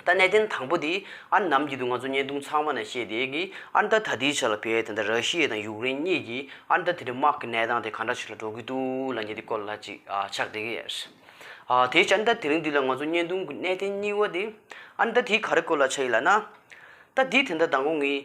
ད་གནས་བརྟན་དང་པོ་དེ་ཨར་འདམ་གྱི་དུས་ང་ཚོ་བརྙན་ཐུང་ཚང་མ་ནས་ཤེས་དེ་གི་ཨར་མདའ་ད་དེའི་ཆ་ལ་བལ་དང་ར་ཤི་ཡེ་དང་ཡུག་རེན་གཉིས་ཀྱིས་ཨར་མདའ་དེ་འདྲ་དམག་གི་གནས་སྟངས་དེ་ག་འདྲ་ཞིག་ལ་འགྲོ་གི་འདུག་ལ་ཉེ་དེ་སྐོར་ལ་ཅིག་ཕྱག་བསྒྲིག་གི་ཡོད། དེའི་ཕྱིར་ཨར་མདའ་དེ་རིང་དུས་ལ་ང་ཚོ་བརྙན་ཐུང་གི་གནས་བརྟན་རྙིང་བ་དེ་ཨར་མདའ་དེའི་ག་རེ་སྐོར་ལ་ཆ་ཡིན་ལགས་ན། ད་དེའི་དེ་འདྲ་དང་གོ་ངེས།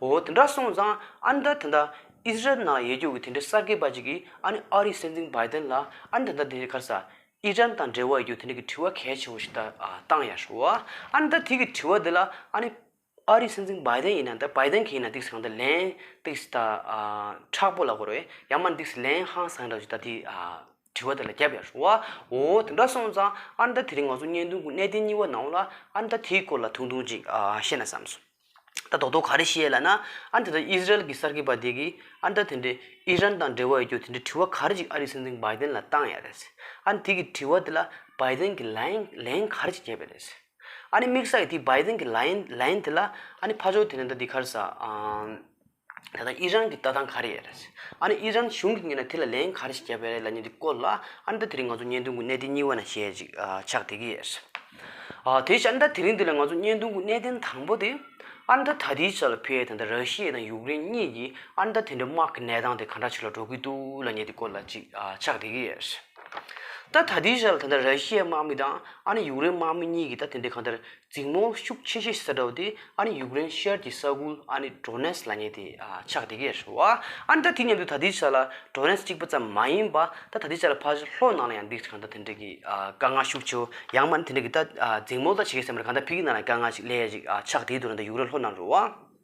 འོ་དེ་འདྲ་སོང་ཙང་ཨ་ནི་ད་དེ་འདྲ་ཨིས་རལ་ནང་ཡེ་རྒྱུག་གི་དེ་འདྲའི་གསར་སྐད་པ་ཅིག་གིས་ཨ་ནི་ཨ་རིའི་སྲིད་འཛིན་བྷའི་དན་ལ་ཨ་ནི་ད་ད་དེ་འདྲའི་ཁར་ས་ཨི་རན་དང་འབྲེལ་བ་ཡོད་རྒྱུ་དེ་འདྲ་གི་དྲི་བ་གལ་ཆེན་བོ་ཞིག་ད་བཏང་ཡ་ཧྲོ་ཨ་ཨ་ནི་ད་དེ་གི་དྲི་བ་དེ་ལ་ཨ་ནི་ཨ་རིའི་སྲིད་འཛིན་བྷའི་དན་ཡིན་ན་ད་བྷའི་དན་གི་ཡིན་ན་འདིས་གང་ད་ལན་འདིས་ད་ཨ་ཁྲག་པོ་ལ་གོ་རོ་ཡ་མ་འདིས་ལན་ཧང་སང་འདྲ་ཞིག་ད་དེ་ཨ། དྲི་བ་དེ་ལ་རྒྱབ་ཡར་ཞུ། འོ། དེ་འདྲ་སོང་ཙང་ཨར་འདར་དེ་རིང་ང་ཚོ་བརྙན་ཐུང་གི་གནད་དོན་གཉིས་པ་ནང་ལ་ཨར་འདར་དེའི་སྐོར་ལ་ཐུང་ཐུང་ཅིག་བཤད་ན་བསམ་སོང། ད་རྡོག་རྡོག་ག་རེ་བཤད་ལ་ན། ཨར་འདར་དང་ཨིས་ར་ཨེལ་གྱི་གསར་འགོད་པ་དེ་གིས་ཨར་འདར་དེ་འདྲའི་ཨི་རན་དང་འབྲེལ་བ་ཡོད་རྒྱུ་དེ་འདྲའི་དྲི་བ་ག་རེ་ཅིག་ཨ་རིའི་སྲིད་འཛིན་བྷའི་ལྡན་ལ་བཏང་ཡ་རེད། ཨ་ནི་དེ་གི་དྲི་བ་དེ་ལ་བྷའི་ལྡན་གྱིས་ལན་ལན་ག་རེ་ཅིག་བརྒྱབ་ཡ་རེད། ཨ་ནི་དམིགས་ས་ཡིས་དེ་བྷའི་ལྡན་གྱིས་ལན་ལན་དེ་ལ་ཨ་ནི་ཕ་ཇོ་དེ་ནི་ད་འདི་གར་ཟ། ད་ལྟ་ཨི་རན་གྱི་ལྟ་སྟངས་ག་རེ་ཡོད་རེད། ཨ་ནི་ཨི་རན་གཞུང་གིས་ངེད་ལ་དེ་ལ་ལན་ག་རེ་ཞིག་བརྒྱབ་ཡོད་རེད་ལ་ནི་འདི་བཀོད་ལ། ཨ་ནི་ད་དེ་རིང་ང་ཚོ་བརྙན་ཐུང་གི་གནད་དོན་གཉིས་པ་ན་ཞེ་ཅིག་ཆགས་བསྡད་ཀྱི་ཡོད། དེ་བཞིན་ཨ་ནི་ད་དེ་རིང་འདི་ལ་ང་ཚོ་བརྙན་ཐུང་གི་གནད་དོན་དང་པོ་དེ། ཨ་ནི་ད་ད་ལྟའི་ཆར་ལ་བྷི་ཡེ་ཐན་དང་ར་ཤི་ཡེ་དང་ཡུཀ་རེན་གཉིས་ཀྱིས་ཨ་ནི་ད་དེ་འདྲའི་དམག་གི་གནས་སྟངས་དེ་ག་འདྲ་ཞིག་ལ་འགྲོ་གི་འདུག་ལ་ནི་འདི་བཀོད་ལ་ཅིག་ཆགས་བསྡད་ཀྱི་ཡོད། ད་ད་ལྟའི་ཆར་ལ་ད་ད་ར་ཤི་ཡའི་དམག་མི་དང་ཨ་ནི་ཡུཀ་རེན་དམག་མི་གཉིས་ཀྱིས་ད་དེ་འདྲའི་གང་ལྟར། རྫིང་མོ་ཤུགས་ཆེ་ཤོས་སེ་ཏོའུ་དེ་ཨ་ནི་ཡུཀ་རེན་ཤར་གྱི་ས་ཁུལ་ཨ་ནི་ཏྲོ་ནེ་སི་ལ་ཉེ་སྟེ་ཆགས་འདི་གས་རེད་བ། ཨ་ནི་ད་དེ་མཉམ་དུ་ད་ལྟའི་ཆ་ལ་ཏྲོ་ནེ་སི་གཅིག་པ་ཙམ་མ་ཡིན་པ་ད་ད་ལྟའི་ཆ་ལ་ཕ་ཤུལ་ལྷོ་ནང་ལ་ཡང་འདིས་གང་འདྲ་དེ་འདྲ་གི་དཀའ་ངལ་ཤུགས་ཆེའོ་ཡང་མ་ནི་དེ་འདྲ་གི་ད་རྫིང་མོ་ལ་བྱེད་ཀྱི་སེམས་པ་གང་འདྲ་ཕིག་གི་ནང་ལ་དཀའ་ངལ་ཞིག་ལས་ཡ་ཞིག་ཆགས་འདིའི་དུ་ན་ད་ཡུཀ་རེན་ལྷོ་ནང་རུ་བ།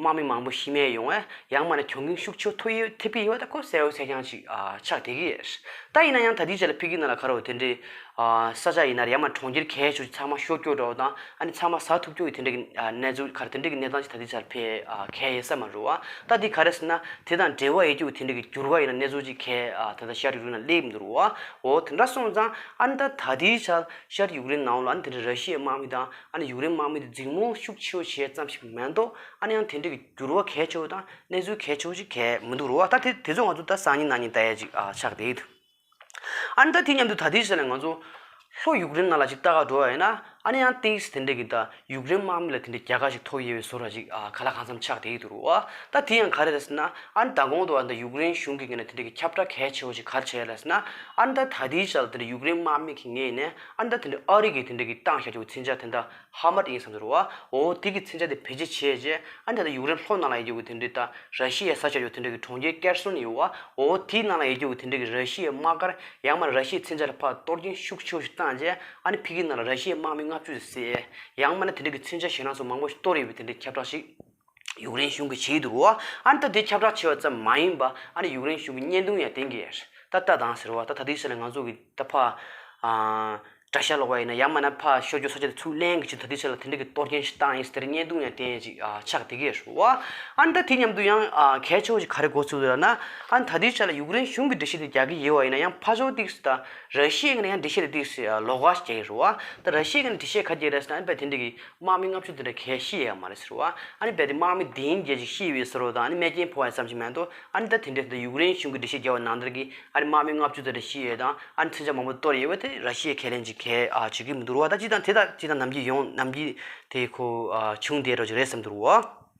དམག་མི་མང་པོ་ཤི་རྨས་ཡོང་བས་ཡང་མ་ནས་གྱོང་གུན་ཤུགས་ཆེ་ཐོབ་ཡོད་ཐེ་བི་ཡོད་ད་ཁོ་གསལ་བོ་ཚད་རྐྱང་ཅིག་ཆགས་བསྡད་ཀྱི་རེད་ད་ཡིན་ན་ཡང་ད་ལྟའི་ཆར་ལ་ཕི་གི་ནང་ལ་ཁ་རོག་དེ་འདྲའི་ས་ཆ་ཡིན་ན་ཡང་མ་གྲོང་ཁྱེར་གས་ཆུ་ཚང་མ་ཤོར་སྐྱོར་འདྲ་བོ་དང་ཨ་ནི་ཚང་མ་ཟགས་ཐུབ་སྐྱོར་གྱི་དེ་འདྲའི་གནས་ཚུལ་ག་རེ་དེ་འདྲའི་གི་གནས་སྟངས་ཅིག་ད་ལྟའི་ཆར་ཕི་གས་ཡེ་ས་མ་རུ་བ་ད་དེ་ག་རེ་ཟེར་ན་དེ་དང་འབྲེལ་བ་ཡེ་རྒྱུ་གི་དེ་འདྲའི་གི་འགྱུར་བ་ཡིན་ན་གནས་ཚུལ་ཅིག་གས་ད་ལྟ་ཤར་ཡུག་རིན་ལ་སླེབས་ཀྱི་འདུག་རུ་བ་འོ་དེ་འདྲ་སོང་ཙང་ཨ་ནི་ད་ད་ལྟའི་ཆར་ཤར་ཡུག་རིན་ནང་ལ་ཨ་ནི་དེ་འདྲའི་ར་ཤི་ཡའི་དམག་མི་དང་ཨ་ནི་ཡུག་རེན་དམག་མི་དེ་རྫིག་རྨོངས་ཤུགས་ཆེའོ་བྱས་ཙམ་ཞིག་མ་གཏོགས་ཨ་ནི་ཡང་དེ་འདྲའི་གི་འགྱུར་བ་གལ་ཆེའོ་དང་གནས་ཚུལ་གལ་ཆེའོ་ཞིག་གལ་མི་འདུག་རོ་ཨ་ད་དེ་དེ་ཚོ་ང་ཚོ་ད་སང་ཉིན་ན་ཉིན་ད་ཡས་ཅིག་ཨ་ཆགས་བསྡད་ཡི་འདུག་ཨ་ནི་ད་དེ་སྙམ་དུ་ད་དེའི་ཟེར་ན་ང་ཚོ་ལྷོ་ཡུག་རེན་ནང་ལ་ཅིག་ལྟ་ག་འགྲོ་བ་ཡིན་ན་ཨ་ནི་ཡང་ཏིང་ཞིག་དེ་འདྲའི་གི་ད་ཡུག་རེན་དམག་མི་ལ་དེ་འདྲའི་རྒྱལ་ཁ་ཞིག་ཐོབ་ཡས་བའི་བཟོ་ར་ཅིག་ཨ་ག་ལ་གང་འཚམ་ཆགས་བསྡད་ཡི་འདུག་རོ་ཨ་ད་དེ་ཡང་ག་རེ་རེད་ཟེར་ན་ཨ་ནི་ད་གོང་དུ་ཨ་ནི་ད་ཡུག་རེན་གཞུང་གིས་གི་ནི་དེ་འདྲའི་གི་ཁྱབ་བསྒྲགས་གལ་ཆེའོ་ཞིག་ག་རེ་བྱས་ཡས་ལ་ཟེར་ན་ཨ་ནི་ད་ད་དེའི་ཆ་ལ་དེ་འདྲའི་ཡུག་རེན་དམག་མི་གི་ངས་ནས་ཨ་མདའ་དེ་ནི་ཨ་རིག་གིས་དེ་འདྲ་གི་གཏང་བཞག་བྱུང་བའི་ཚིག་འཇག་དེ་འདྲ་ཧ་མ་ཏི་ཡིན་བསམ་ཟེར་རོ། འོ་དེ་གི་ཚིག་འཇག་དེ་བེད་སྤྱད་བྱས་རྗེས་ཨ་མདའ་དེ་ཡུག་རེན་ལྷོ་ནང་ལ་ཡེ་རྒྱུག་གི་དེ་འདྲའི་ད་ར་ཤི་ཡའི་ས་ཆ་ཡོད་དེ་འདྲ་གི་གྲོང་ཁྱེར་ཀེར་སོན་ཡོད་བ། འོ་དེའི་ནང་ལ་ཡེ་རྒྱུག་གི་དེ་འདྲ་གི་ར་ཤི་ཡའི་དམག་སྒར་ཡང་མ་ར་ཤི་ཡའི་ཚིག་འཇག་ལ་ཕར་གཏོར་གྱིན་ཤུགས་ཆེ་བོ་ཞིག་བཏང་རྗེས་ཨ་ནི་ཕི་གི་ནང་ལ་ར་ཤི་ཡའི་དམག་མི་ལྔ་བཅུ་ཟེར། ཡང་མ་ནི་དེ་འདྲ་གི་ཚིག་འཇག་ཞེ་སྣང་སོགས་མང་བོ་ཞིག་གཏོར་ཡོད་པའི་དེ་འདྲའི་ཁྱབ་བསྒྲགས་ཤིག། ཡུག་རེན་གཞུང་གི་ཆེད་དུའོ། ཨ་རི་ད་དེ་ཁྱབ་བསྒྲགས་བྱས་པ་ཙམ་མ་ཡིན་པ་ཨ་རི་ཡུག་རེན་གཞུང་གི་བརྙན་ཐུང་ཡང་དེང་གི་ད་ལྟ་དང་ཟེར་བ་ད་ད་དུས་ཚོད་ལ་ང་ཚོ་གི་ད་ཕ། དགྲ་ཤ་ལོག་པ་ཡིན་ན་ཡང་མ་ན་ཕ་ཤོ་རྒྱུ་ས་ཆ་དེ་ཚུར་གླན་གྱི་ཆེད་དུ་ད་དུས་ཚོད་ལ་དེ་འདྲ་གི་གཏོར་སྐྱོན་ཞིག་བཏང་ཡིན་ཟེར་བརྙན་ཐུང་ཡང་དེ་ཅིག་ཆགས་བསྡད་གི་རེད་བ། ཨ་རི་ད་དེ་མཉམ་དུ་ཡང་གས་ཆོག་ཅིག་ག་རེ་གོ་ཚུལ་རེད་ན། ཨ་རི་ད་དུས་ཆོད་ལ་ཡུག་རེན་གཞུང་གི་འདྲི་གཞི་དེ་རྒྱག་གི་ཡོད་བ་ཡིན་ན་ཡང་ཕ་ཤོ་དེ་ད་ར་ཤི་ཡའི་ངང་ནས་ཡང་འདྲི་གཞི་དེ་ལོག་ག་ཞིག་རྒྱག་གི་རེད་བ། ད་ར་ཤི་ཡའི་ངང་ནས་འདྲི་གཞི་ག་རྒྱག་གི་རེད་ཟེར་ན་ཨ་རི་པས་དེ་འདྲ་གི། དམག་མི་ལྔ་བཅུ་དེ་འདྲ་གས་ཤི་ཡས་ཡང་མ་རེད་ཟེར་བ། ཨཱ་ནི་རྦད་དེ་དམག་མི་འདི་ཡིན་རྒྱལ་ཅིག་ཤི་ཡི་འི་ཟེར་བ་དང་ཨཱ་ནི་རྨས་སྐྱེན་ཕོ་བ་ཡིན་བསམ་གྱི་མེད་དོ། ཨཱ་ནི་ད་དེ་འདྲའི་ཟེར་ན་ཡུཀ་རེན་གཞུང་གི་སྒྲིག་གཞི་རྒྱལ་བ་ནང་ལྟར་གྱིས་ཨཱ་ནི་དམག་མི་ལྔ་བཅུ་དེ་འདྲ་ཤི་ཡས་དང་ཨཱ་ནི་མཚོན་ཆ་མང་པོ་གཏོར་ཡས་བས་དེ་ར་ཤི་ཡའི་ཁས་ལེན་གྱི་གས་བྱེད་ཀྱི་མི་འདུག་ར་བ་ད་ཅི་དང་དེ་དང་ཅི་དང་ནམ་གྱིས་ཡོང་ནམ་གྱིས་དེ་ཁོ་ཆུང་དེ་རོ་གྱི་རེད་བསམ་འདུག་ར་བ།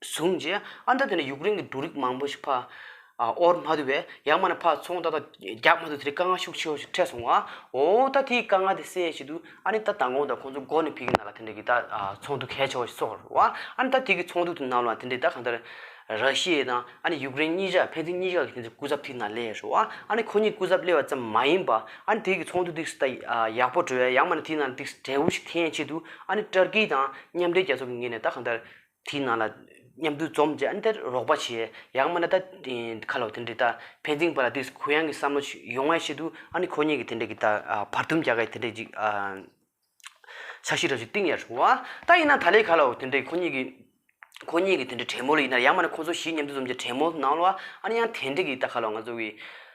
བཟུང་རྗེས་ཨ་མདོ་དེ་ནས་ཡུཀ་རེན་གྱི་འབྲུ་རིགས་མང་པོ་ཞིག་ཕག་ཨོར་མ་དུ་བས་ཡར་མར་ནས་ཕག་ཚོང་རྟ་དང་རྒྱགས་མ་དུ་དེ་རིགས་དཀའ་ངལ་ཤུགས་ཆེ་བ་ཞིག་འཕྲད་སོང་བ། འོ་ད་དེའི་དཀའ་ངལ་དེ་སེལ་ཡས་ཤིག་དུས་ཨ་ནི་ད་མདང་དགོང་དང་ཁོང་ཚོ་སྒོ་ནས་ཕིག་གི་ནང་ལ་དེ་འདྲ་གི་ད་ཚོང་དུ་གལ་ཆེ་བ་ཞིག་གསོག་རོགས་བ། ཨ་ནི་ད་དེ་གི་ཚོང་དུ་དེ་ནང་ལ་དེ་འདྲའི་ད་གང་ལྟར་ར་ཤི་ཡའི་དང་ཨ་ནི་ཡུཀ་རེན་གཉིས་ཆ་ཕན་ཚུན་གཉིས་ཀ་གི་དེ་འདྲའི་སྐུ་ཚབ་ཐིག་ནང་སླེ་ཡས་རོགས་བ། ཨ་ནི་ཁོ་གཉིས་སྐུ་ཚབ་སླེ་བ་ཙམ་མ་ཡིན་པ་ཨ་ནི་དེ་གི་ཚོང་དུ་དེ་ད་ཡག་པོ་འགྲོ་ཡས་ཡར་མར་ནས་དེའི་ནང་དེ་འབྲས་བུ་ཞིག་འཐེན་ཡས་ཆེད་དུ་ཨ་ནི་ཏར་ཀི་དང་མཉམ་འབྲེལ་རྒྱལ་ཚོགས་ཀྱི་ངོས་ནས་ད་གང་ལྟར། དེའི་ནང་ལ། མཉམ་འདུལ་འཛོམས་ཀྱི་ཨ་མདའི་རོགས་པ་བྱས། ཡང་མ་ན་ད་ཁ་ལོ་དེ་འདྲའི་ད། ཕན་ཚིག་པ་ལ་དེ་གུ་ཡངས་ཀྱི་བསམ་བློ་ཡོང་བའི་ཆེད་དུ་ཨ་ནི་ཁོ་གཉིས་ཀྱི་དེ་འདྲའི་གི་ད། བར་འདུམ་རྒྱག་གི་དེ་འདྲའི་གི། ཆ་ཤས་རབ་ཞིག་བཏིང་ཡ་བྱུང་བ། ད་ཡིན་ན་ད་ལས་ཁ་ལོ་དེ་འདྲའི་ཁོ་གཉིས་ཀྱི། ཁོ་གཉིས་ཀྱི་དེ་འདྲའི་བྲན་མོ་ལ་ཡིན་ན་ཡང་མ་ན་ཁོ་ཚོ་བཞི་མཉམ་འདུལ་འཛོམས་ཀྱི་བྲན་མོ་ནང་ལོ། ཨ་ནི་ཡང་དེ་འདྲའི་གི་ད་ཁ་ལོ་ང་ཚོ་གི།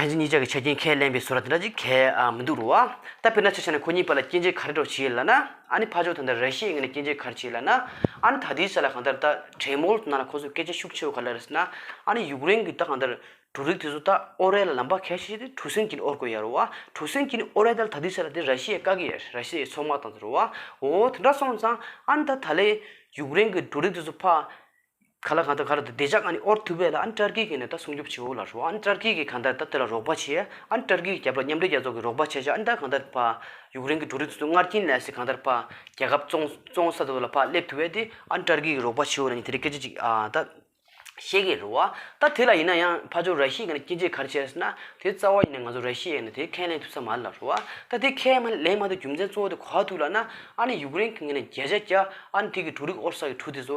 ཕན་ཚུན་གཉིས་ཅག་གི་ཆ་རྐྱེན་ཁས་ལེན་པའི་སོ་ར་དེ་འདྲ་ཅིག་གལ་མི་འདུག་རུང་བ། ད་དཔེར་ན་ཆ་ཆ་ནས་ཁོ་གཉིས་བར་ལ་སྐྱེ་མཆེད་ག་རེ་གྲོགས་བྱེད་ལ་ན། ཨ་ནི་ཕ་ཆོག་ད་ལྟ་ར་ཤི་ཡའི་ངོས་ནས་སྐྱེ་མཆེད་ག་རེ་བྱེད་ལ་ན། ཨ་ནི་ད་དེའི་ས་ལ་གང་ལྟར་ད་དྲེད་མོལ་གནང་ལ་ཁོ་ཚོས་སྐད་ཆ་ཤུགས་ཆེ་བོ་ག་ལ་རེ་ཟེར་ན། ཨ་ནི་ཡུཀ་རེན་གྱི་ད་གང་ལྟར་འབྲུ་རིགས་དེ་ཚོ་ད་ཨོ་རད་ལ་ལམ་བར་ཁས་ཤིག་ཤིག་དེ་འཕྲུ་སེན་གྱིས་ནི་ཨོར་དགོས་ཡ་རུང་བ། འཕྲུ་སེན་གྱིས་ནི་ཨོ་རད་ད་ལ་ད་དེའི་ས་ལ་དེ་ར་ཤི་ཡའི་བཀག་གི་ཡ་ར་ཤི་ཡའི་ཚོགས་མ་དང་ཚོ་རུང་བ། འོ་དེ་འདྲ་སོང་ཙང་ཨ་ནི་ད་ད་ལའི་ཡུཀ་རེན་གྱི་འབྲུ་རིགས་དེ་ཚོ་ཕ། ག་ལ་གང་ལྟར་ག་ལ་ད་བདེ་འཇགས་ཨ་ནི་ཨོར་ཐུ་བྷེ་ལ་ཨ་ནི་ཏར་ཀི་གིས་ནས་ད་སྲུང་སྐྱོབ་བྱེད་འོ་ལ་རོགས་ཨ་ནི་ཏར་ཀི་གིས་གང་ལྟར་ད་དེ་ལ་རོགས་པ་བྱེད་ཨ་ནི་ཏར་ཀི་གིས་རྒྱབ་ལ་མཉམ་འབྲེལ་རྒྱལ་ཚོགས་ཀྱིས་རོགས་པ་བྱས་ཤག་ཨ་ནི་ད་གང་ལྟར་ཕ། ཡུཀ་རེན་གྱི་འབྲུ་རིགས་དེ་ཚོ་སྔར་རྐྱེན་ལས་སེ་གང་ལྟར་ཕ། རྒྱལ་ཁབ་བཙོང་བཙོང་ས་དེ་ཚོ་ལ་ཕ་སླེབས་ཐུ་བས་དེ་ཨ་ནི་ཏར་ཀི་གིས་རོགས་པ་བྱེད་འོ་ལ་ནི་དེ་རིགས་སྐད་ཆ་ཅིག་ཨ་ད། བཤད་ཀྱི་རོ་ཨ་ད་དེ་ལ་ཡིན་ན་ཡང་ཕ་ཆོ་ར་ཤི་ཡས་ནས་སྐྱེ་འཇིག་གར་བྱས་ཟེར་ན་དེ་རྩ་བ་ཡིན་ན་ང་ཚོ་ར་ཤི་ཡས་ནས་དེ་ཁས་ལེན་ཐུབ་ས་མ་ལ་རོ་ཨ་ད་དེ་ཁས་མ་ལེན་མ་ཐུབ་རྒྱུ་མཚན་གཙོ་བོ་དེ་གོ་ཨ་ཐུ་ལ་ན་ཨ་ནི་ཡུཀ་རེན་གྱིས་ནས་རྒྱལ་ཆ་རྒྱ་ཨ་ནི་ཐི་གི་འབྲུ་རིགས་ཨོར་ས་གི་འབྲུ་དེ་ཚོ་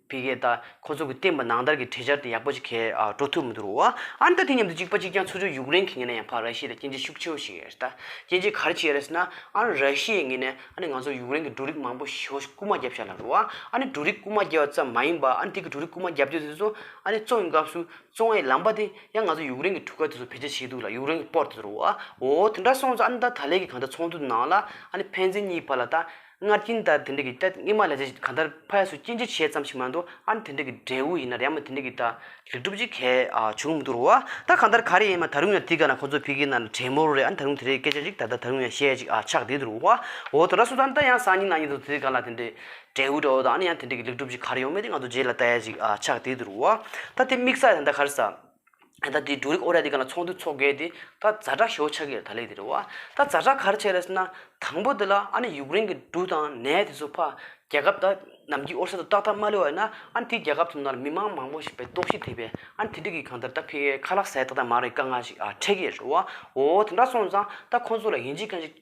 བི་གེ་ད། ཁོ་ཚོ་གི་བསྟན་པ་ནང་ལྟར་གྱི་གྲོས་འཆར་དེ་ཡག་པོ་ཞིག་གས་འགྲོ་ཐུབ་མི་འདུག་རོ། ཨ་འདི་མཉམ་དུ་གཅིག་པ་གཅིག་རྐྱང་ཚུ་ཆུ་ཡུག་རེན་གི་ངེས་ན་ཡང་ཕ་ར་ཤི་ལ་སྐྱེ་འཇི་ཤུགས་ཆེ་བོ་ཞིག་ཡོད་རེད་ད། སྐྱེ་འཇི་ག་རེ་བྱས་རེད་ཟེར་ན། ཨ་ར་ཤི་ཡས་ངེས་ནས་ཨ་ནི་ང་ཚོར་ཡུག་རེན་གི་འབྲུ་རིགས་མང་པོ་ཞོ་རྐུ་མ་རྒྱབ་ཤག་ལ་རོ། ཨ་ནི་འབྲུ་རིགས་རྐུ་མ་རྒྱབ་བ་ཙམ་མ་ཡིན་པ་ཨ་འདི་གི་འབྲུ་རིགས་རྐུ་མ་རྒྱབ་རྒྱུ་དེ་ཚོ་ཨ་ནི་བཙོང་གི་སྐབས་སུ་བཙོང་བའི་ལམ་པ་དེ་ཡང་ང་ཚོ་ཡུག་རེན་གི་གྲུ་ཁ་དེ་ཚོ་བེད་སྤྱད་བྱས་འདུག་ལ་ཡུག་རེན་གི་པོར་དེ་ཚོ་རོ། འོ་དེ་འདྲ་སོང་ཙང་ཨ་ནི་ད་ད་ལས་གི་གང་ལྟར་ཚོང་དུད་ནང་ལ་ཨ་ནི་ཕན་ཚན་གཉིས་བར་ལ་ད། སྔར་སྐྱིན་ད་དེ་འདྲ་གི་ཏད་སྔས་མ་ལས་ཚེ་གང་ལྟར་ཕ་ཡ་སུ་སྐྱིན་ཅི་བྱས་ཙམ་ཞིག་མ་འདུག་ཨ་ནི་དེ་འདྲ་གི་འབྲས་བུ་ཡིན་ན་རེ་མ་དེ་འདྲ་གི་ད་ལེགས་གྲུབ་ཅིག་གས་བྱུང་མི་འདུག་རོ་ད་གང་ལྟར་ག་རེ་ཡིན་མ་ད་རུང་ཡང་དེ་ག་ན་ཁོ་ཚོ་ཕི་གི་ན་ལ་བྲེད་མོ་རོ་རེད་ཨ་ནི་ད་རུང་དེ་རེ་སྐད་ཆ་ཅིག་ད་ད་ད་རུང་ཡང་བཤད་ཅིག་ཨ་ཆགས་བསྡད་འདུག་རོ་ཨོ་ད་ར་སུ་ད་ད་ཡང་སང་ཉིན་ན་ཉིན་དུ་དེ་ག་ལ་དེ་འདྲའི་འབྲས་བུ་འདྲ་བོ་ད་ཨ་ནི་ཡང་དེ་འདྲ་གི་ལེགས་གྲུབ་ཅིག་ག་རེ་ཡོང་མེད་དེ་ང་ཚོ་རྗེས་ལ་ལྟ་ཡ་ཅིག་ཨ་ཆགས་བསྡད་འདུག་རོ་ཨ་ད་དེ་དམིགས་ས་ཡ་ད་ག་རེ་ས། ད་ལྟ་དེ་འབྲུ་རིགས་ཨོ་རད་དེ་ག་ལ་ཚོང་དུས་འཚོགས་དགོས་ཏེ་ད་རྫ་ཁྲ་ཞོ་ཆགས་ཀྱི་རེད་ད་ལས་དེ་རེད་བ། ད་རྫ་ཁྲ་ག་རེ་བྱས་རེད་ཟེར་ན་དང་པོ་དེ་ལ་ཨ་ནི་ཡུཀ་རེན་གྱི་འབྲུ་དང་ནས་དེ་ཚོ་ཕ། རྒྱལ་ཁབ་ད་ནམ་གྱི་ཨོ་རསེ་དུ་ཏག་ཏག་མ་ལུས་བ་ན་ཨ་ནི་དེའི་རྒྱལ་ཁབ་ཚོ་ན་མི་མང་མང་པོ་ཞིག་པའི་ལྟོགས་ཤི་དེད་པས་ཨ་ནི་དེ་འགྲིག་གི་གང་ལྟར་ད་ཕི་ཁ་ལག་ཟས་ཏག་ཏག་མ་རེད་དཀའ་ངལ་ཞིག་ཨ་འཕྲད་ཀྱི་རེད་བ་འོ་དེ་འདྲ་སོང་ཙང་ད་ཁོང་ཚོ་ལ་ཡིན་གཅིག་གང་ཞིག།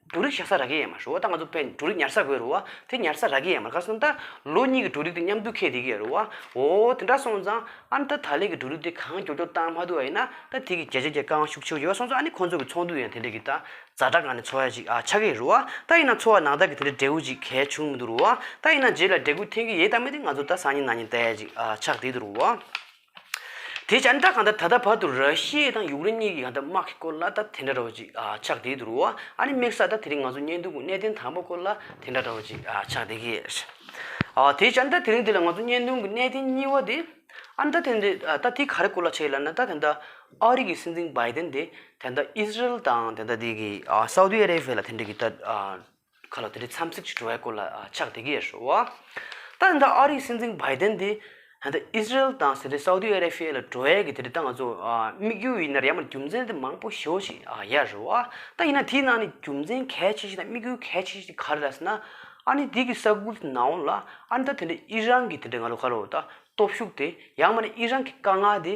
འབྲུ་རིགས་བཞག་ས་རག་གི་ཡ་མ་རུ་བ་ད་ང་ཚོ་འབྲུ་རིགས་ཉར་ས་དགོས་རུ་བ་དེ་ཉར་ས་རག་གི་ཡ་མ་ག་སོང་ད་ལོ་གཉིས་ཀྱི་འབྲུ་རིགས་དེ་མཉམ་དུ་ཁེ་དེ་གི་ཡ་རུ་བ་འོ་དེ་འདྲ་སོང་ཙང་ཨ་ན་ད་ད་ལེ་གི་འབྲུ་རིགས་དེ་གང་འགྱོ་འགྱོ་བཏང་མ་ཐུབ་བ་ཡིན་ན་ད་དེ་གི་རྒྱ་ཆ་རྒྱ་གང་ཤུགས་ཆེ་བོ་ཡོད་པ་སོང་ཙང་ཨ་ནི་ཁོང་ཚོ་གི་ཚོང་དུད་ཡང་དེ་འདྲ་གི་ད་རྫ་དྲ་གང་ནས་འཚོ་བ་ཅིག་ཨ་ཆག་གི་རུ་བ་ད་ཡིན་ན་འཚོ་བ་ནང་ད་གི་དེ་འདྲའི་འབྲས་བུ་ཅིག་གལ་ཆུང་མི་འདུག་རུ་བ་ད་ཡིན་ན་རྗེས་ལ་འབྲས་བུ་འཐེན་གི་ཡེད་ད་མེད་དེ་ང་ཚོ་ད་སང་ཉིན་ནང་ཉིན་ད་ཡ་ཅིག་ཨ་ཆག་དེ་དུ་རུ་བ། དེ་བྱས་ན་ད་གང་ལྟར་ད་ལྟ་བར་དུ་ར་ཤི་ཡེ་དང་ཡུག་རེན་གཉིས་ཀྱི་གང་ལྟར་དམག་གི་སྐོར་ལ་ད་དེ་འདྲ་འདྲ་བོ་ཅིག་ཆགས་བསྡད་འདུག་རོ། ཨ་ནི་དམིགས་ས་ད་དེ་རིང་ང་ཚོ་གཉེན་སྡུག་གི་གནས་བརྟན་དང་པོ་སྐོར་ལ་དེ་འདྲ་འདྲ་བོ་ཅིག་ཆགས་བསྡད་ཀྱི། དེ་བྱས་ན་ད་དེ་རིང་འདི་ལ་ང་ཚོ་གཉེན་སྡུག་གི་གནས་བརྟན་གཉིས་བ་དེ། ཨ་ནི་ད་དེ་འདི་ད་དེ་ག་རེ་སྐོར་ལ་བྱས་ལ་ན་ད་དེ་ད་ཨ་རི་གི་སྲིད་འཛིན་བྷའི་ཏེན་དེ་དེ་ད་ཨི་ཟི་རེལ་དང་དེ་ད་དེ་གི་སའུ་ཏི་ཨ་རའི་བྷེ་ལ་དེ་འདྲ་གི་ད། ཁ་ལོ་དེ་འདྲའི་འཚམས་གཟིགས་ཀྱི་བྲོ་བའི་སྐོར་ལ་ཕྱག་དེ་གས་ཧྲོ། ད་ནི་ད་ཨ་རིའི་སྲིད་འཛིན་བྷའི་ཏན་དེ། ད་ཨིས་ར་ཨེལ་དང་ཟེར་ཏེ་སའུ་ཏི་ཨ་རེ་ཕི་ཡའི་ལ་བྲོ་བའི་གི་དེ་འདྲའི་ཏང་ང་ཚོ་དམིགས་ཡུལ་ཡིན་ནར་ཡང་མ་རྒྱུ་མཚན་དེ་མང་པོ་ཞོ་ཞིག་ཡས་ཧྲོ། ད་ཡིན་ན་དེའི་ནང་ནས་རྒྱུ་མཚན་གལ་ཆེ་ཤོས་དང་དམིགས་ཡུལ་གལ་ཆེ་ཤོས་དེ་ག་རེ་རེད་ཟེར་ན། ཨ་ནི་དེ་གི་ས་ཁུལ་དེ་ནའོ་ལ་ཨ་ནི་ད་དེ་འདྲའི་ཨི་རན་གི་དེ་འདྲའི་ང་ལོ་ཁ་ལོ་ད་སྟོབས་ཤུགས་དེ་ཡང་མ་ནི་ཨི་རན་གི་དཀའ་ངལ་དེ།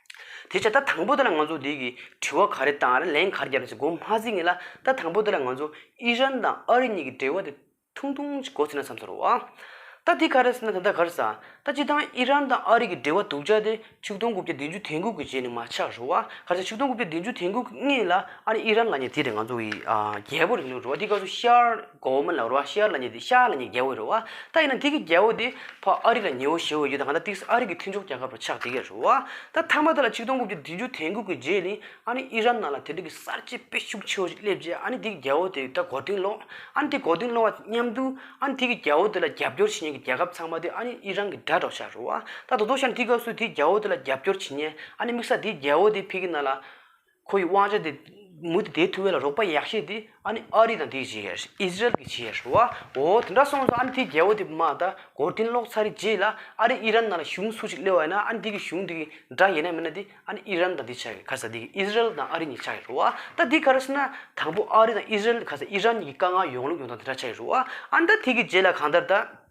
དེ་ཕྱིར་ད་དང་པོ་དེ་ལ་ང་ཚོ་འདིའི་གི་དྲི་བ་ག་རེ་དང་རེ་ལན་ག་རེ་བརྒྱབ་ནས་ཟེར་གོ་མ་ཟིག་ངེས་ལ་ད་དང་པོ་དེ་ལ་ང་ཚོ་ཨི་རན་དང་ཨ་རི་གཉིས་ཀྱི་འབྲེལ་བ་དེ་ཐུང་ཐུང་ཅིག་གོ་ཟེར་ན་བསམ་ས་རོགས་ཨ། ད་དེ་ག་རེ་ཟེར་ན་ད་ལྟ་ག་རེ་ཟ། ད་སྤྱི་དང་ཨི་རན་དང་ཨ་རི་གི་འབྲེལ་བ་དུག་ཆ་དེ་ཆིག་སྟོང་དགུ་བརྒྱ་བདུན་ཅུ་དེང་གོ་གི་རྗེས་ནས་མ་ཆགས་རོགས་ཨ་ག་རེ་ཟ་ཆིག་སྟོང་དགུ་བརྒྱ་བདུན་ཅུ་དེང་གོ་གི་ངེས་ལ་ཨ་རི་ཨི་རན་ལ་ཉེ་དེ་རེད་ང་ཚོ་གི་རྒྱལ་པོ་རེད་ནོ་རོགས་ཨ་དེ་ག་ཚོད་ཤར། གོ་མིན་ལ་རུ་བ་ཤཱི་ཨར་ལ་ཉེ་དེ་ཤཱི་ཨར་ལ་ཉེ་རྒྱལ་བོ་རུ་བ་ད་ཡིན་ན་འདི་གི་རྒྱལ་བོ་དེ་ཕ་ཨ་རི་ལ་ཉེའོ་ཞེས་བོ་ཡོད་ད་ག་ད་ཏིག་སི་ཨ་རི་གི་མཐུན་ཕྱོགས་རྒྱལ་ཁབ་རུ་ཆགས་འདི་གས་རུ་བ་ད་མཐའ་མ་ད་ལ་ཆིག་སྟོང་དགུ་བཅུ་བདུན་ཅུ་དེང་དགུ་གི་རྗེས་ནི་ཨ་ནི་ཨི་རན་ནང་ལ་དེ་དུས་ཀྱི་གསར་བརྗེ་དཔེ་ཤུགས་ཆེ་བོ་ཞིག་སླེབས་རྗེས་ཨ་ནི་འདི་གི་རྒྱལ་བོ་དེ་ད་གོ་དོན་ལོག་ཨ་ནི་དེ་གོ་དོན་ལོག་བ་དེ་མཉམ་དུ་ཨ་ནི་དེ་གི་རྒྱལ་བོ་དེ་ལ་རྒྱབ་སྐྱོར་བྱེད་ཉན་གི་རྒྱལ་ཁབ་ཚང་མ་དེ་ཨ་ནི་ཨི་རན་གི་དགྲ་གྲོགས་ཆགས་རུ་བ་ད་དོ་དོ་ཤཱི་ནི་དེ་སྐབས་སུ་དེ་རྒྱལ་བོ་དེ་ལ་རྒྱབ་སྐྱོར་བྱེད་ཉན་ཨ་ནི་དམིགས་ས་དེ་རྒྱལ་བོ་དེ་ཕི་གི་ནང་ལ། ཁོ་ཡི་དབང་ཆ་དེ་མུ་མཐུད་དེ་ཐུ་བེ་ལ་རོགས་པ་ཡག་ཤེས་དེ་ཨ་ནི་ཨ་རི་དང་དེ་གྱིས་བྱས་ཨི་ཟི་རལ་གྱིས་བྱས་ཧྲུ་བ་འོ་དེ་འདྲ་སོང་ཟིག་ཨ་ནི་དེའི་རྒྱལ་པོ་དེ་མ་ད་གོར་ཐིན་ལོག་ཚར་རིགས་རྗེས་ལ་ཨ་རི་ཨི་རན་ནང་ལ་གཞུང་སུ་ཞིག་སླེ་བ་ཡིན་ན་ཨ་ནི་དེ་གྱིས་གཞུང་དེ་གི་འདྲ་ཡིན་ན་མིན་ན་དེ་ཨ་ནི་ཨི་རན་དང་དེ་ཆགས་ཀྱི་ག་ས་དེ་གི་ཨི་ཟི་རལ་དང་ཨ་རི་གཉིས་ཆགས་ཀྱི་ཧྲུ་བ་ད་དེ་ག་རེ་ཟེར་ན་དང་པོ་ཨ་རི་དང་ཨི་ཟི་རལ་ག་ས་ཨི་རན་གཉིས་ཀྱི་དཀའ་ངལ་ཡོང་ལུགས་ཡོང་སྟངས་དེ་འདྲ་ཆགས་ཀྱི་ཧྲུ་བ་ཨ་ནི་ད་དེ་གྱིས་རྗེས་ལ་གང་ལྟར་ད།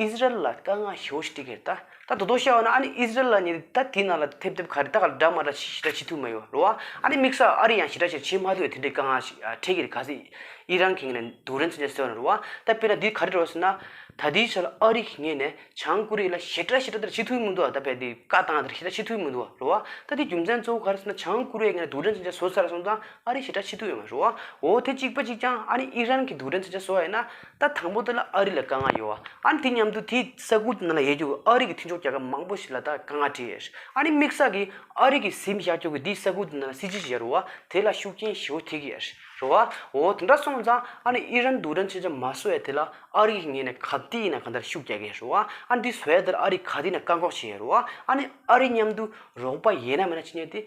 ཨིས་ར་ཨེལ་ལ་དཀའ་ངལ་ཞེ་བོ་ཞིག་སྤྲད་ཀྱི་རེད་ད། ད་དོ་དོ་ཤེས་བ་ན་ཨ་ནི་ཨིས་ར་ཨེལ་ལ་ནི་ད་དེ་ནང་ལ་ཐེབས་ཐེབས་ག་རེ་ད་ག་ལ་འདྲ་མ་འདྲ་ཞི་ཞི་འདྲ་ཞི་ཐུབ་མ་ཡོད་རེད་བ། ཨ་ནི་དམིགས་ས་ཨ་རི་ཡང་ཞི་འདྲ་ཞིག་བྱེད་མ་ཐུབ་ཡོད་དེ་འདྲའི་དཀའ་ངལ་ཞིག་འཕྲད་ཀྱི་རེད་ག་ཚེ་ཨི་རན་གྱིས་ངས་ནས་དུག་རན་ཚོད་ཅན་ཟེར་བ་ནི་རེད་བ། ད་དཔེར་ན་འདི་ག་རེ་རེད་བ་ཟེར་ན། ད་དེའི་ཆ་ལ་ཨ་རི་གིས་ངས་ནས་བྱང་ཀོ་རི་ཡ་ལ་ཞི་འདྲ་ཞི་འདྲ་འདྲ་བྱེད་ཐུབ་ཀྱི་མི་འདུག་བ་ད་བལ་འདི་བཀའ་བཏང་འདྲ་ཞི་འདྲ་བྱེད་ཐུབ་ཀྱི་མི་འདུག་བ་རེད་བ། ད་དེའི་རྒྱུ་མཚན་གཙོ་བོ་ག་རེ་ཟེར་ན་བྱང་ཀོ་རི་ཡས་ངས་ནས་དུག་རན་ཚོད་ཅན་བཟོ་ཚར་སོང་ཙང་ཨ་རི་ཞི་འདྲ་བྱེད་ཐུབ་ཡོད་མ་རེད་བ། འོ་དེ་གཅིག་པ་གཅིག་ཀྱང་ཨ་ནི་ཨི་རན་གྱིས་དུག་རན་ཚོད་ཅན་བཟོ་བ་ཡིན་ན། ད་དང་པོ་དེ་ལ་ཨ་རི་ལ་དཀའ་ངལ་ཡོད། ཨ་ནི་དེ་མཉམ་དུ་དེའི་ས་ཁུལ་དེ་ནང་ལ་ཡལ་རྒྱུ་ཨ་རི་གི་མཐུན་ཕྱོགས་རྒྱལ་ཁབ་མང་པོ་ཞིག་ལ་ད་དཀའ་ངལ་འཕྲད་ཡོད། ཨ་ནི་དམིགས་བསལ་གྱི་ཨ་རི་གི་གཟིམ་ཤག་ཁྱོ་གས་དེའི་ས་ཁུལ་དེ་ནང་ལ་སྲིད་ཇུས་ཤིག་ཡལ་རུ་བ་དེ་ལ་ཤུགས་རྐྱེན་ཞི་བོ་ཐེབས་ཀྱི་ཡལ་རུ་བ་འོ་དེ་འདྲ་སོང་ཙང་ཨ་ནི་ཨི་རན་དུ་དྲན་ཆེ་ཆེ་མ་བཟོ་བས་དེ་ལ་ཨ་རི་གིས་ངེད་ནས་ག་དུས་ཡིན་ན་ག་འདྲར་ཤུགས་རྒྱག་གི་ཡལ་རུ་བ་ཨ་ནི་དེ་བཟོ་ཡལ་དེར་ཨ་རིས་ག་དུས་ཡིན་ན་བཀག་འགོག་བྱེད་ཡལ་རུ་བ་ཨ་ནི་ཨ་རི་མཉམ་དུ་རོགས་པ་ཡེད་ན་མེད་ན་ཅི་ཉེས་དེ་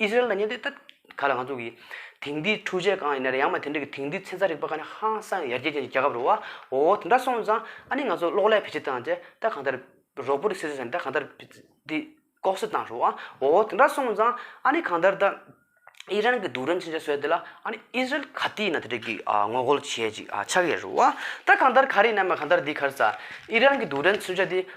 ཨི་ཟི་རལ་ན་ཉེན་རྟོག་ལྟ་ག་ལ་ང་ཚོ་གི་དེང་དུས་འཕྲུལ་ཆས་གང་ཡིན་ན་རེ་ཡང་མ་དེ་འདྲ་གི་དེང་དུས་ཚན་རྩལ་རིག་པ་ག་ནི་ཧང་སང་ཡར་རྒྱས་ཅན་གྱི་རྒྱལ་ཁབ་རུ་བ་འོ་དེ་འདྲ་སོང་ཙང་ཨ་ནི་ང་ཚོ་གློག་ཀླད་བེད་སྤྱད་བཏང་སྟེ་ད་གང་ལྟར་རོགས་པོ་རི་སེ་སེ་ཟེར་ནས་ད་གང་ལྟར་འདི་ལྐོག་ཟ་བཏང་རུ་བ་འོ་དེ་འདྲ་སོང་ཙང་ཨ་ནི་གང་ལྟར་ད་ཨི་རན་གི་དུག་སྦྲང་ཅི་འདྲ་བཟོས་དེ་ལ་ཨ་ནི་ཨི་ཟི་རལ་ག་དུས་ཡིན་ན་དེ་འདྲ་གི་ངོ་རྒོལ་བྱེད་ཅིག་ཆགས་ཡས་རུ་བ་ད་གང་ལྟར་ག་རེ་ཡིན་ན་མ་གང་ལྟར་འདི་གར་ཙང་ཨི་རན་གི་དུག་སྦྲང་མཚོན་ཆ་འདི་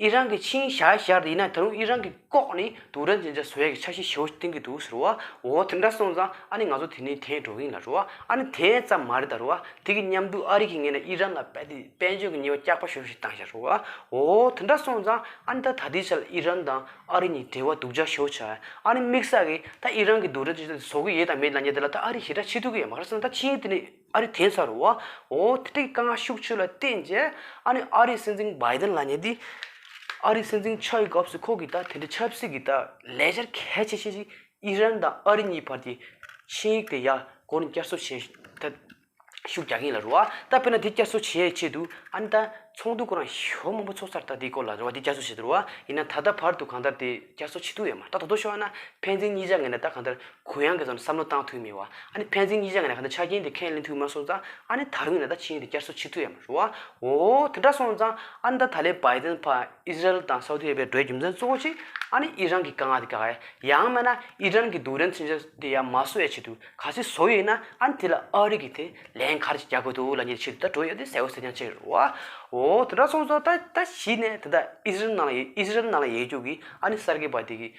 ཨི་རན་གྱི་ཆིང་ཞའེ་ཤར་དུ་ཡིན་ན་ད་རུང་ཨི་རན་གྱི་ལྐོག་ནས་དུག་རྭ་འཛིན་བྱ་སོའི་ཆ་ཤས་བྱེད་ཨོ་གཏན་གྱི་འདུག་ཟེར་བ། འོ་དེ་འདྲ་སོང་ཙང་ཨ་ནི་ང་ཚོ་དེ་ནས་དེད་འགྲོ་གིན་ལ་རོ། ཨ་ནི་དེ་ཙམ་མ་རེད་ད་རོ། དེ་གི་མཉམ་དུ་ཨ་རི་གིས་ངེད་ལ་ཨི་རན་ལ་དཔལ་འབྱོར་གྱི་ཉེས་པ་བསྐྱག་པ་ཞོར་ཞིག་བཏང་བྱ་རོ། འོ་དེ་འདྲ་སོང་ཙང་ཨ་ནི་ད་ད་ལྟའི་ཆར་ཨི་རན་དང་ཨ་རི་གཉིས་འབྲེལ་བ་དུག་བྱ་ཞོར་བྱ། ཨ་ནི་དམིགས་བསལ་གྱིས་ད་ཨི་རན་གྱི་དུག་རྭ་འཛིན་བྱ་དེ་བཟོ་གི་ཡོད་དང་མེད་ལ་ཉེ་དེ་ལ་ད་ཨ་རིའི་ཞེ་དྲག་ཕྱི་ཐུག་གི་ཡོད་མ་རེད་སོང་ད་ཕྱིའི་དེ་ནས། ཨ་རི་དེ་ཚར་བ་འོ་ཐིག་ཀ་ང་ཤུགས་ཆོས་ལ་བརྟེན་རྗེས་ཨ་ནི་ཨ་རིའི་སྲིད་འཛིན་བའི་དོན་ལ་ཉེ་དེ། ཨ་རིའི་སྲིད་འཛིན་མཆོག་གི་སྐབས་སུ་ཁོང་གིས་ད་དེ་འདྲའི་ཆབ་སྲིད་ཀྱི་ད་ལས་གཞིར་གལ་ཆེ་ཤོས་ཤིག་ཨི་རན་དང་ཨ་རི་གཉིས་བར་གྱི་ཆིངས་ཡིག་དེ་ཡར་སྐོར་ནས་བསྐྱར་གསོ་བྱེད་ཐད་ཤུགས་རྒྱག་མཁན་ལ་རེ་བ་ད་དཔེར་ན་དེ་བསྐྱར་གསོ་བྱེད་ཆེད་དུ་ཨ་ནི་ད་ཚོགས་འདུ་སྐོར་རང་ཞོར་མང་པོ་ཚོགས་ཚར་ད་དེའི་སྐོར་ལ་རེ་བ་དེ་བསྐྱར་གསོ་བྱེད་དུ་རེ་བ་ཡིན་ན་ད་ལྟ་བར་དུ་གང་ལྟར་དེ་བསྐྱར་གསོ་བྱེད་ཐུབ་ཡོད་མ་ད་དོ་དོ་ཤོར་ན་ཕན་ཚུན་གཉིས་ཆ་ངེས་ན་ད་གང་ལྟར་གུ་ཡངས་ཀྱིས་ཙམ་བསམ་བློ་བཏང་ཐུབ་མི་བ། ཨ་ནི་ཕན་ཚིག་གཉིས་ཆ་ངེས་ན་ག་ད་ཆ་རྐྱེན་དེ་ཁས་ལེན་ཐུབ་མ་སོང་ཙང་ཨ་ནི་ད་རུང་ནས་ད་ཕྱི་ཡིན་དེ་བསྐྱར་གསོ་བྱེད་ཐུབ་ཡ་མ་རུ་བ། འོ་དེ་འདྲ་སོང་ཙང་ཨ་ནི་ད་ད་ལའི Biden ཕ Israel དང Saudi Arabia འགྲོའི་རྒྱུ་མཚན་གཙོ་བོ་གཅིག་ཨ་ནི་ཨི་རན་གྱི་དཀའ་ངག་དེ་ག་ག་ཡ་ཡང་མེད་ན་ཨི་རན་གྱི་རྡུགས་རན་ཚུན་ཆད་དེ་ཡ་མ་བཟོ་ཡ་བྱེད་དུས་ག་ཚིག་བཟོ་ཡོད་ན་ཨ་ནི་དེ་ལ་ཨ་རི་གི་དེ་ལན་ག་རེ་ཅིག་རྒྱག་དགོས་འདུག་ལ་ཉེ་ཕྱི་དུ་ད་འགྲོ་ཡོད་དེ་གསལ་བོ་གསལ་རྐྱང་ཅིག་རུ་བ། འོ་དེ་འདྲ་སོང་ཙང་ད་ད་ཕྱི་ནས་དེ་ད Israel ནང་ལ Israel ནང་ལ་ཡལ་རྒྱུག་གིས་ཨ་ནི་གསར་སྐྱེས་པ་དེ་གིས་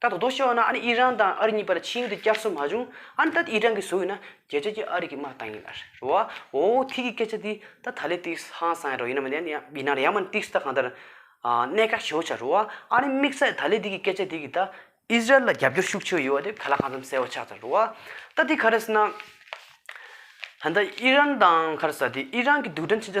ད་དོ་དོ་ཤེས་བ་ན་ཨ་ནི་ཨི་རན་དང་ཨ་རི་གཉིས་བར་ཕྱི་ཡུལ་དུ་བསྐྱར་གསོ་མ་བྱུང་ཨ་ནི་ད་ཨི་རན་གྱི་བཟོ་ཡིན་ན་རྒྱལ་སྤྱི་གྱི་ཨ་རི་གྱི་དམག་བཏང་ཡིན་ཨར་རེད་བ་འོ་ཐིག་གི་སྐད་ཆ་འདི་ད་ད་ལི་ཏིགས་ཧང་སང་རོ་ཡིན་ནམ་ཡང་ཡིན་ན་རེ་ཡང་མ་ནི་ཏིགས་ད་གང་ལྟར་གནད་འགག་ཆེ་བོ་ཆགས་རེད་བ་ཨ་ནི་དམིགས་བསལ་ད་ལི་ཏིགས་ཀྱི་སྐད་ཆ་དེ་གིས་ད་ཨི་རན་ལ་རྒྱབ་སྐྱོར་ཤུགས་ཆེ་བོ་ཡོད་བ་དེ་ག་ལ་གང་འཚམ་གསལ་བོ་ཆགས་ཚར་རེད་བ་ད་དེ་ག་རེ་ཟེར་ན་ད་ཨི་རན་དང་ག་རེ་ཟ་དེ་ཨི་རན་གྱི་རྡུལ་ཕྲན་ཕྱིན་ཆད་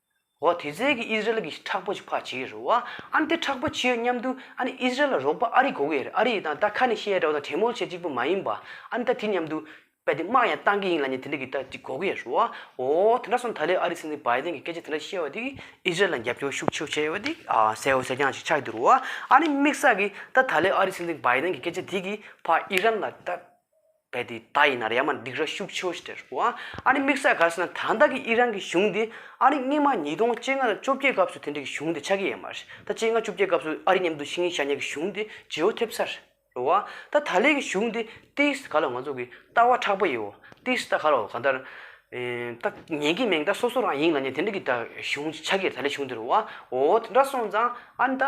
འོ་དེ་ཚེ་གི་ཨིས་རལ་གི་ཁྲག་པོ་ཆི་ཕ་བྱིས་རུ་བ་ཨན་དེ་ཁྲག་པོ་ཆིའོ་སྙམ་དུ་ཨན་ཨིས་རལ་ལ་རོགས་པ་ཨ་རི་གོ་གི་རེད་ཨ་རི་དང་ད་ཁ་ནས་ཤི་ཡ་འདྲ་བ་དང་བྲེ་མོ་བྱེད་ཅིག་པོ་མ་ཡིན་པ་ཨན་ད་དེ་སྙམ་དུ་བལ་དེ་དམག་ཡང་གཏང་གི་ཡིན་ལ་ནི་དེ་འདྲ་གི་ད་གི་གོ་གི་རུ་བ་འོ་དེ་འདྲ་སོང་ད་ལེ་ཨ་རི་སི་ནི་བའི་དེང་གི་སྐད་ཆ་དེ་འདྲ་བཤད་བ་དེ་གི་ཨིས་རལ་ལ་རྒྱབ་སྐྱོར་ཤུགས་ཆེ་བྱས་བ་དེ་གི་ཨ་ཟེ་ཨོ་ཟེ་རྐྱང་ཞིག་ཆགས་ཀྱི་རུ་བ་ཨ་ནི་དམིགས་བསལ་གི་ད་ད་ལེ་ཨ་རི་སི་ནི་བའི་དེང་གི་སྐད་ཆ་དེ་གི་ཕ་ཨི་རན་ལ་ད། བས་དེ་ད་ཡིན་ན་ཡ་མ་འགྲིག་ར་ཤུགས་ཆེའོ་ཞེས་ཟེར་རོ། ཨ་རི་དམིགས་བསལ་ག་རེ་ཟེར་ན་ད་ལྟ་གི་ཨི་རན་གྱི་གཞུང་འདི་ཨ་རི་སྔོན་མ་ཉིས་སྟོང་བཅོ་ལྔ་དང་བཅོ་བརྒྱད་སྐབས་སུ་དེ་འདྲ་གི་གཞུང་འདི་ཆགས་ཀྱི་ཡོད་མ་རེད་ད་བཅོ་ལྔ་བཅོ་བརྒྱད་སྐབས་སུ་ཨ་རི་མཉམ་དུ་ཤི་ངེ་བཞག་ཉེ་གི་གཞུང་འདི་ཇེ་བོ་ཐེབས་ས་རེད་རོ། ད་ད་ལའི་གི་གཞུང་འདི་ཏིས་ཏི་ག་ལ་ང་ཚོ་གི་ལྟ་བ་དྲག་པོ་ཡིའོ་ཏིས་ཏི་ག་ལ་ག་ལྟར། ད་ཉན་གི་མེད་ད་སོ་སོ་རང་ཡིན་ལ་ཉན་དེ་འདྲ་གི་ད་གཞུང་ཆགས་ཀྱི་རེད་ད་ལའི་གཞུང་འདི་རོ། འོ་འདྲ་སོང་ཙང་ཨ་རི་ད།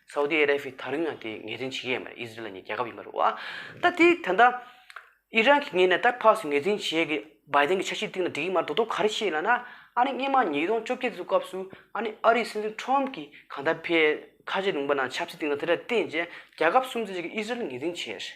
སའུ་ཏི་ཨ་ར་བྷི་ད་རིང་ཡང་དེ་ངེས་གཏན་བྱེད་ཀྱི་ཡོད་མ་རེད་ཨི་ཟི་རེལ་གཉིས་རྒྱལ་ཁབ་ཡིན་མ་རེད་བ། ད་དེ་ད་ལྟ་ཨི་རན་གྱི་ངེས་ནས་ད་ཕག་སུ་ངེས་གཏན་བྱེད་ཀྱི་སྦའི་ཏན་གྱི་ཆ་ཤས་གཏིང་ལ་འགྲིག་གི་མ་རེད་མདོ་སྟོད་ག་རེ་བྱེད་ལ་ན་ཨ་ནི་སྙེ་མ་ཉིས་སྟོང་བཅོ་བརྒྱད་ཚོའི་སྐབས་སུ་ཨ་ནི་ཨ་རིའི་སྲིད་འཛིན་ཁྲོམ་གྱི་གང་ལྟར་ཕེ་ཁ་ཆེ་རུང་པ་ན་ཆབ་སྲིད་སྟེང་ལ་དེ་འདྲ་བརྟེན་རྗེས་རྒྱལ་ཁབ་སུམ་བརྩེགས་གཅིག་གི་ཨི་ཟི་རེལ་ངེས་གཏན་བྱས།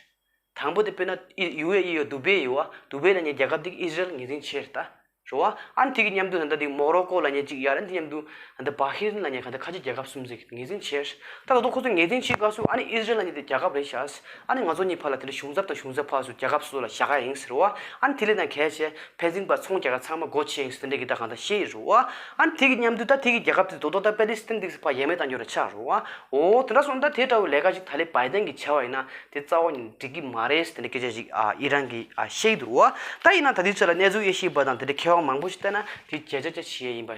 དང་པོ་དེ་དཔེར་ན་ཨི་ཡུའེ་ཨི་ཡོ་དུ་བེ་ཡོ་ཨ་དུ་བེ་ལ་ཉེ་རྒྱལ་ཁབ་དེ་གི་ཨི་ཟི་རལ་ངེས་འཛིན་ཆེ་རེད་ད། ཞོ་ཨ་ཨན་དེ་གི་མཉམ་དུ་ད་ལྟ་དེ་གི་མོག་རོ་ཀོ་ལ་ཉེ་གཅིག་ཡ་རན་དེ་མཉམ་དུ་ད་ལྟ་བྷ་ཧི་རན་ལ་ཉེ་ག་ད་ཁ་ཆེ་རྒྱལ་ཁབ་གསུམ་ཟིག་ངེས་འཛིན་ཆེ། ད་ད་དུང་ཁོ་ཚོ་ངེས་འཛིན་ཆེ་ག་སུ་ཨ་ནི་ཨི་ཟི་རལ་ལ་ཉེ་དེ་རྒྱལ་ཁབ་རེད་ཤ་ཨ་ནི་ང་ཚོ་གཉིས་བར་ལ་དེ་ལ་གཞུང་ཚབ་དང་གཞུང་ཟབ་བྷ་སུ་རྒྱལ་ཁབ་སུ་ལ་བཞག་ག་ཡིན་ཟེར་རོ་ཨ་ཨན་དེ་ལས་ན་གལ་ཆེ་བས་རྫིང་བར་ཚོང་རྒྱག་མཁན་ཚང་མ་སྒོ་ཕྱེ་ཡིན་སྟེ་འདྲེ་གིས་བདག་གང་ད་ཤེས་ཡི་རུ་ཨ། ཨ་ནི་དེ་གི་མཉམ་དུ་ད་དེ་གི་རྒྱལ་ཁབ་དེ་རྡོ་ཐོག་ད་པེ་ལི་སི་ཐན་དིག་སི་ཕ་ཡས་མས་བཏང་རྒྱུ་ར་ཆག་རུ་ཨ། འོ་དེ་འདྲ་སོང་ད་དེ་འདྲ་བའི་ལས་ཀ་ཞིག་ད་ལི་བའི་ཏན་གི་བྱ་བ་ཡིན་ན་དེ་རྩ་བ་ནས་འགྲིག་གི་མ་རེད་སྟེ་འདྲེ་སྐད་ཆ་ཞིག་ཨ་ཨི་རན་གི་ཨ་བཤད་ཡི་རུ་ཨ། ད་ཡིན་ན་ད་དེའི་ཚོད་ལ་གནས་ཚུལ་དབྱེ་ཤེས་པ་དང་དེ་འདྲའི་མཁས་དབང་མང་པོ་ཞིག་བསྟན་ན་དེ་བརྒྱ་ཆ་བརྒྱ་བྱེད་ཡས་ཡིན་པ།